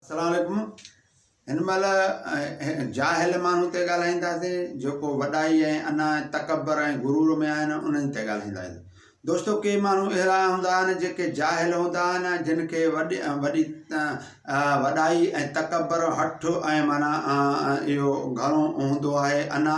اسلام عليڪم هن مهل جاهل ماڻهو تي ڳالهائينداسين جيڪو وڏائي ۽ انا ۽ تڪبر ۽ غرور ۾ آهن انهن تي ڳالهائينداسين دوستو ڪي ماڻهو اهڙا هوندا آهن جيڪي جاهل هوندا آهن جن کي وڏي وڏي وڏائي ۽ تڪبر هٺ ۽ معنيٰ اهو گهڻو هوندو آهي انا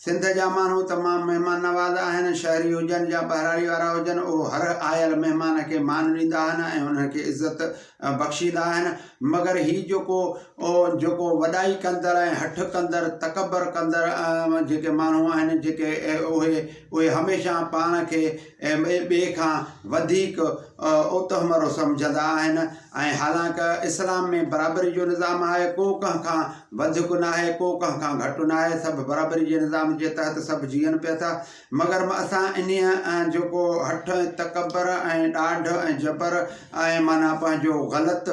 سنڌ جا ماڻهو تمام مهمان نواز آهن، شهري هجن يا ٻهراڙي وارا هجن، اهو هر آيل مهمان کي مان ڏيندا آهن ۽ انهن کي عزت بخشيندا آهن، مگر هي جيڪو جيڪو وڏائي ڪندڙ ۽ هٺ ڪندڙ تڪبر ڪندڙ جيڪي ماڻهو آهن جيڪي اهي اهي هميشه پاڻ کي ۽ ٻئي کان وڌيڪ اوتوهمرو سمجهندا آهن ۽ حالانڪ اسلام ۾ برابري جو نظام آهي ڪو ڪنهن کان وڌڪ ناهي ڪو ڪنهن کان گهٽ ناهي سڀ برابري جي نظام جي تحت سڀ جيئن پيا ٿا مگر اسان انهيء جيڪو هٺ ۽ تڪبر ۽ ڏاڍ ۽ جبر ۽ معنيٰ پنهنجو غلط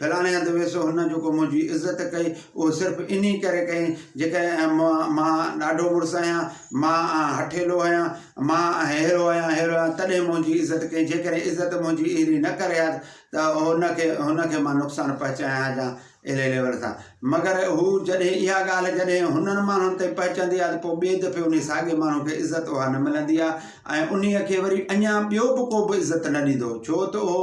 ڦلاڻي هنڌ ويس، هن جيڪو منهنجي عزت ڪئي، اهو صرف انهي ڪري ڪئي، جيڪڏهن مان ڏاڍو مڙس آهيان، مان هٺيلو آهيان، مان ههرو آهيان، ههرو آهيان، تڏهن منهنجي عزت ڪئي، جيڪڏهن عزت منهنجي اهڙي نه ڪري ها ته هن کي، هن کي مان نقصان پهچايان ها جا اهڙي ليول سان. مگر هو جڏهن اها ڳالهه جڏهن هنن ماڻهن تائين پهچندي ها ته پوء ٻئي دفعي انهي ساڳئي ماڻهو کي عزت اها نه ملندي ها ۽ انهي کي وري اڃا ٻيو به ڪو به عزت نه ڏيندو هو، ڇو ته اهو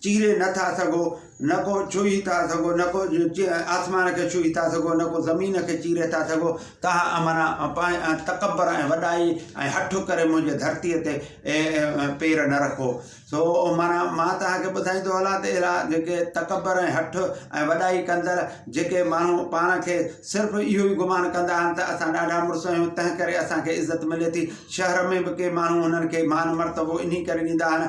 چيري نه ٿا سگهو، نه ڪو ڇهي ٿا سگهو، نه ڪو آسمان کي ڇهي ٿا سگهو، نه ڪو زمين کي چيري ٿا سگهو، تنهن امرا ۽ تڪبر ۽ وڏائي ۽ هٺ ڪري منهنجي ڌرتيء تي پير نه رکو. سو امرا مان توهان کي ٻڌائيندو هلان ته اهڙا جيڪي تڪبر ۽ هٺ ۽ وڏائي ڪندڙ جيڪي ماڻهو پاڻ کي صرف اهو ئي گمان ڪندا آهن ته اسان ڏاڍا مڙس آهيون، تنهن ڪري اسان کي عزت ملي ٿي، شهر ۾ به ڪي ماڻهو هنن کي مان مرتبو انهي ڪري ڏيندا آهن،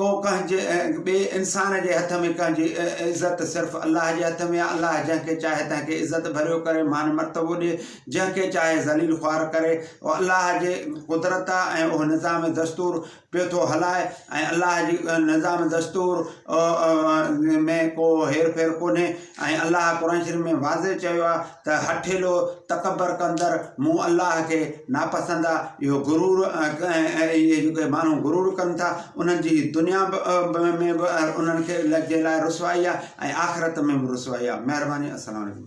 ڪو ڪنهن جي ۽ ٻئي انسان جي هٿ ۾ ڪنهن جي عزت صرف الله جي هٿ ۾ آهي الله جنهن کي چاهي تنهن کي عزت ڀريو ڪري مان مرتبو ڏي جنهن کي چاهي ذليل خوار ڪري اهو الله جي قدرت آهي ۽ اهو نظام دستور پيو ٿو هلائي ۽ الله جي نظام دستور ۾ ڪو هير ڦير ڪونهي ۽ الله قرآن شريف ۾ واضح چيو آهي ته هٺيلو، تڪبر ڪندڙ، مون، الله، کي ناپسند آهي. اهو غرور ۽ اهي جيڪي ماڻهو غرور ڪن ٿا انهن جي دنيا ۾ به انهن کي جي لاء رسوائي آهي ۽ آخرت ۾ به رسوائي آهي. مهرباني السلام عليڪم.